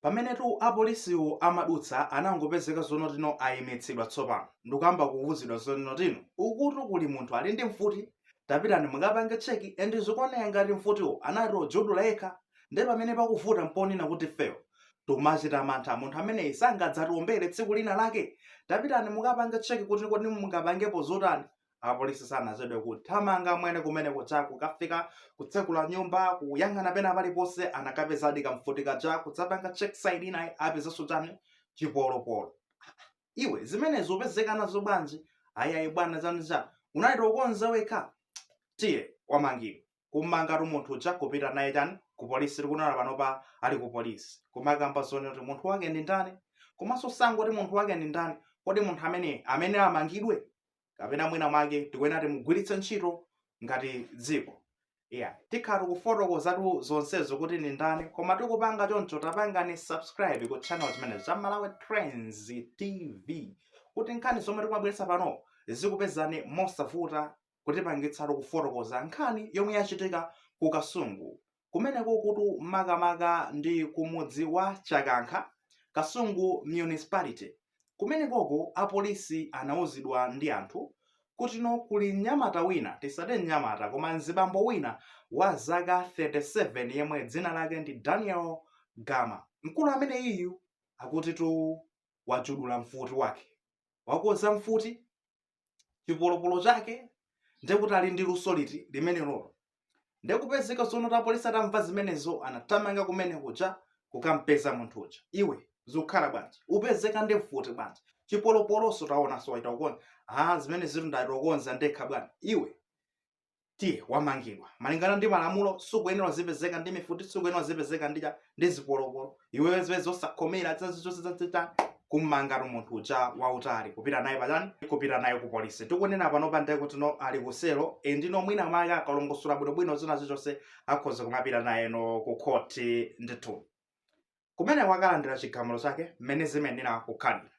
Pamenetu apolisiwo amadutsa anangopezeka zonotino ayimitsidwa tsopano ndikuyamba kuwuzidwa zonotino ukutu kuli munthu ali ndi mfuti tapitani mukapange check and zikuoneka ngati mfutiwo anati ojudula yekha nde pamene pakuvuta mponena kuti ifeyo tikumachita mantha munthu ameneyi sangadzatiombere tsiku lina lake tapitani mukapange check kuti kodi mungapangepo zotani apolisi sanachedwe kuthamanga mwene kumene kuja kukafika kutsekula nyumba kuyang'ana pena paliponse anakapezadi kamfuti kaja kudzapanga check side inayi apezanso chani chipolopolo iwe zimenezo upezeka nazo bwanji ayayi bwana chani chani unaita ukonza wekha tiye wamangidwa kummangatu munthu uja kupita naye chani ku polisi tikunena panopa ali ku polisi kumakamba zonena kuti munthu wake ndi ndani komanso sangoti munthu wake ndi ndani kodi munthu amene amene amangidwe kapena mwina mwake tikuyenera timugwiritse ntchito ngati dziko yeah. tikhala tikufotokozatu zonsezo kuti ndi ndani koma tikupanga choncho tapangani subscribe ku channel chimenechi cha malawi trends tv kuti nkhani zomwe tikumabweretsa pano zikupezani mosavuta kutipangitsatu kufotokoza nkhani yomwe yachitika ku kasungu kumenekokotu makamaka ndi kumudzi wa chakankha kasungu municipality kumenekoko apolisi anauzidwa ndi anthu kutino kuli mnyamata wina tisati mnyamata koma mzibambo wina wa zaka 37 yemwe dzina lake ndi daniel gama mkulu amene iyu akutitu wajudula mfuti wake wakonza mfuti chipolopolo chake ndekuti ali ndi luso liti limenelolo ndekupezeka zonoti apolisi atamva zimenezo anathamanga kumene kuja kukampeza munthu uja iwe zikukhala bwanji upezeka ndi mfuti bwanji chipolopoloso taonanso waita kukonza a zimene zitu ndaita ukonza ndekha bwana iwe tiye wamangidwa malingana ndi malamulo sukuyenera uzipezeka ndi mifuti sukuyenera uzipezeka ndi cha ndi zipolopolo iweyo zimene osakhomera zazizozizazita kummangatu munthu uja wautali kupita naye pachani kupita naye ku polisi tikunena panopa ndekuti no ali kuselo endi no mwina mwake akalongosola bwinobwino zina zichonse akhoza kumapita naye no ku khoti ndithu kumeneko akalandira chigamulo chake mmene zimayenera kukhalira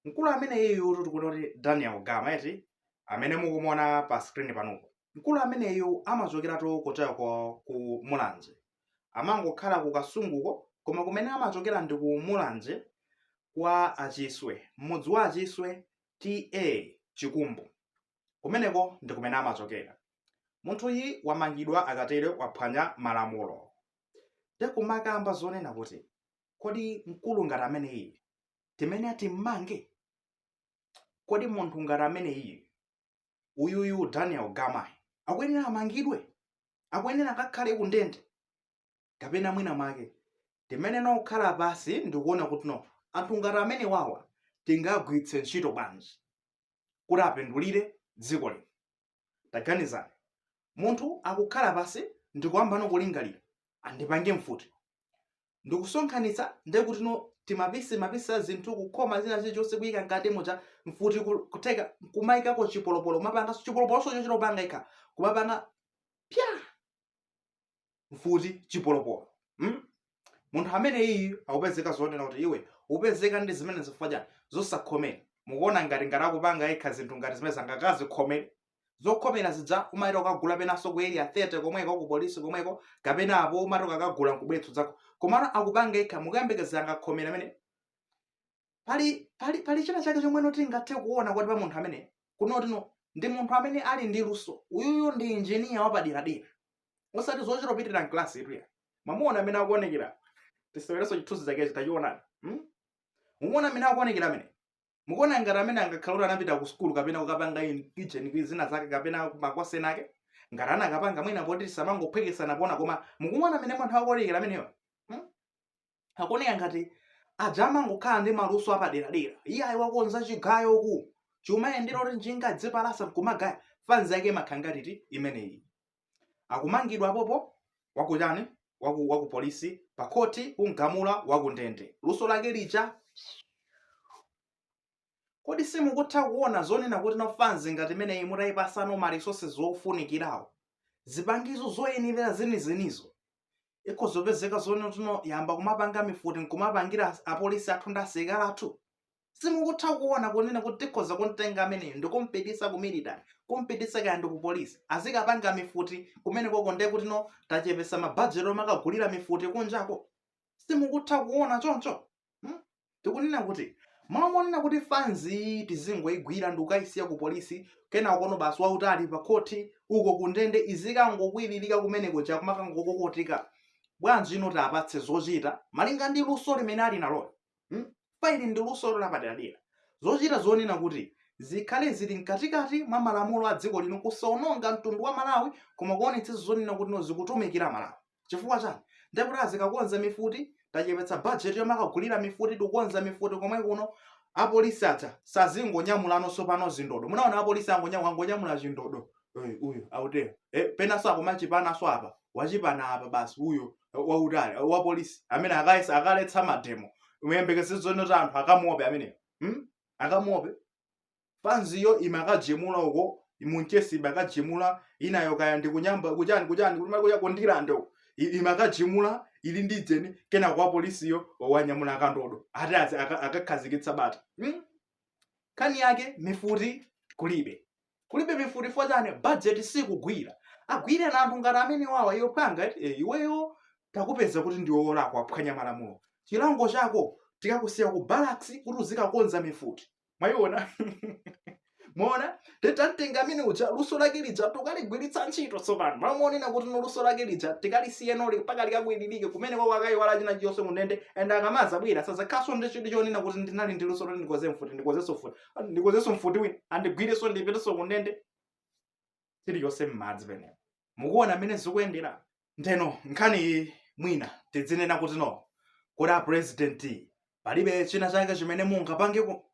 mkulu ameneyuyutu tikunena kuti daniel gama eti amene mukumuona pa screen panupo mkulu ameneyu amachokeratu kujako ku mulanje amangokhala ku kasunguko koma kumene amachokera ndi ku mulanje kwa achiswe mmudzi wa achiswe ta chikumbu kumeneko ndi kumene amachokera munthuyi wamangidwa akatere waphwanya malamulo te kumakamba zonena kuti kodi mkulu ngati ameneyi timene atimmange kodi munthu ngati ameneyi uyuyu daniel gama akuyenera amangidwe akuyenera akakhale kundende kapena mwina mwake timene nokhala pansi ndikuona kuti no anthu ngati amene wawa tingagwiritse ntchito bwanji kuti apindulire dziko lino taganizani munthu akukhala pansi ndikuyambano kulingalira andipange mfuti ndikusonkhanitsa ndekutino timapisi mapisi a zinthu kukhoma china chilichonse kuyika mkati muja mfuti ku- kutheka kumayikako chipolopolo kumapanganso chipolopoloso chochita kupanga yekha kumapanga pya mfuti chipolopolo hmm? munthu ameneyi akupezeka zonena kuti iwe upezeka ndi zimenezi chifukwa chani zosakhomera mukuona ngati ngati akupanga yekha zinthu ngati zimene zangakazi khomere zokhomera zija umayita kukagula penanso ku area 30 komweko ku polisi komweko kapena apo umati kukagula nkubwetso zako komano akupanga yekha mukuyembekeza angakhomere amene pali pali pali china chake chomwe noti ngathe kuona kuti pa munthu amene kunotino ndi munthu amene ali ndi luso uyuyu ndi injiniya wapaderadera osati zochita pitira mklasi ituya mwamuona mmene akuonekera tisewerenso chithunzi chakechi tachionani hmm? mukuona mmene akuonekera amene mukuona ngati amene angakhala kuti anapita ku sukulu kapena kukapanga ujeni zina zake kapena makosi ena ake ngati anakapanga mwina poti tisamangophwekesana pona koma mukuona mmene munthu akuonekera ameneyo akuoneka ngati aja amangokhala ndi maluso apaderadera iye ayi wakonza chigayo uku chimayendera kuti njinga dzipalasa nkumagaya fanzi yake imakhala ngati imeneyi akumangidwa apopo wakuchani waku, waku polisi pa khoti kumgamula wakundende luso lake lija Kodi simukutha kuona zonena kuti no fanzi ngati imeneyi mutayipasa no ma resources wofunikirawo, zipangizo zoyenelera zenizenizo, ikhoza kupezeka zonoti no yamba kumapanga mifuti nkumapangira apolisi athu ndi asilikali athu? Simukutha kuona kunena kuti tikhoza kumtenga ameneyu ndikumpitisa ku military, kumpitisa kaya ndi ku polisi, azikapanga mifuti kumenekoko ndekuti no tachepesa ma budget omakagulira mifuti kunjako? simukutha kuona choncho hmm? tikunena kuti mmalo monena kuti fanzi tizingoigwira ndi kukayisiya ku polisi kena ukono basi wautali pa khoti uko kundende izikangokwiririka kumeneko chakumakangokokotika bwanji inu tapatse zochita malinga ndi luso limene ali nalo hmm? pali ndi luso lapaderadera zochita zonena kuti zikhale zili mkatikati mwa malamulo a dziko lino kusaononga mtundu wa malawi koma kuonetsa zonena kuti no zikutumikira malawi chifukwa chani ndekuti azikakonza mifuti tachepetsa bajeti yomakagulira mifuti tikukonza mifuti komwe kuno apolisi aja sazingonyamulanso tsopano zindodo munaona apolisi angonyamula angonyamula chindodo Eh, uyu autero eh, penanso akumachipanaso apa wachipana apa basi uyo eh, wautali eh, wapolisi amene akayesa akaletsa mademo muyembekeze zono za anthu akamuope ameneyo hmm? akamuope fanziyo imakajemula uko munchesi imakajemula inayo kaya ndi kunyamba kuchani kuchani kuti makuya kondilande uko I- imakajemula ili ndi dzeni kena kake wapolisiyo wanyamula kandodo ati azi aka- akakhazikitsa bata hmm? nkhani yake mifuti kulibe kulibe mifuti fo chani budget sikugwira agwireni anthu ngati amenewawa iwe phwanga eti, eh, iweyo takupeza kuti ndiwe wolakwa waphwanya malamulo chilango chako tikakusiya ku barracks kuti uzikakonza mifuti mwayiona mmene titamtenga amene uja luso lake lija tukaligwiritsa ntchito tsopano mmalo monena kuti no luso lake lija tikalisiye ilolo mpaka likakwilirike kumeneko wakayiwala china chilichonse kundende and akamazabwera sazakhalaso ndi chidwi chonena kuti ndinali ndi luso loti ndikonze mfuti ndikonzenso mfuti Ah, ndikonzenso mfuti wina andigwirenso ndipitenso kundende chilichonse mmadzi penepo mukuona mmene zikuyendera ndeno nkhani iyi mwina tidzinena kuti no kodi a president palibe china chake chimene mungapangeko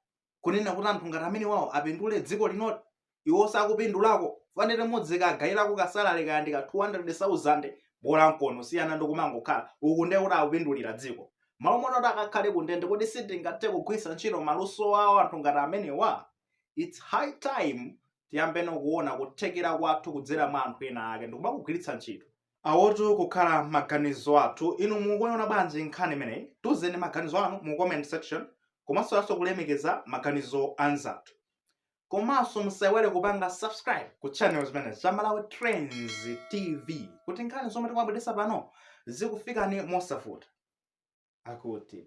kunena kuti anthu ngati amenewawa apindule dziko linoli iwoso akupindulako fanika mudzikagayirako kasalary kaya ndi ka 200,000 bola mkono siyana ndi kumangokhala uku ndiye kuti akupindulira dziko mmalo monena kuti akakhale kundende kodi sitingathe kugwiritsa ntchito maluso awo anthu ngati amenewa it's high time tiyambeno kuona kuthekera kwathu kudzera mwa anthu ena ake ndikumakagwiritsa ntchito awotu akukhala maganizo athu inu mukuona bwanji nkhani imeneyi tuzeni maganizo anu mu comment section komanso osayiwalanso kulemekeza maganizo anzathu komanso musaiwale kupanga subscribe ku channel chimene cha malawi trends tv kuti nkhani zomwe tikumabweretsa pano zizikufikani mosavuta akuti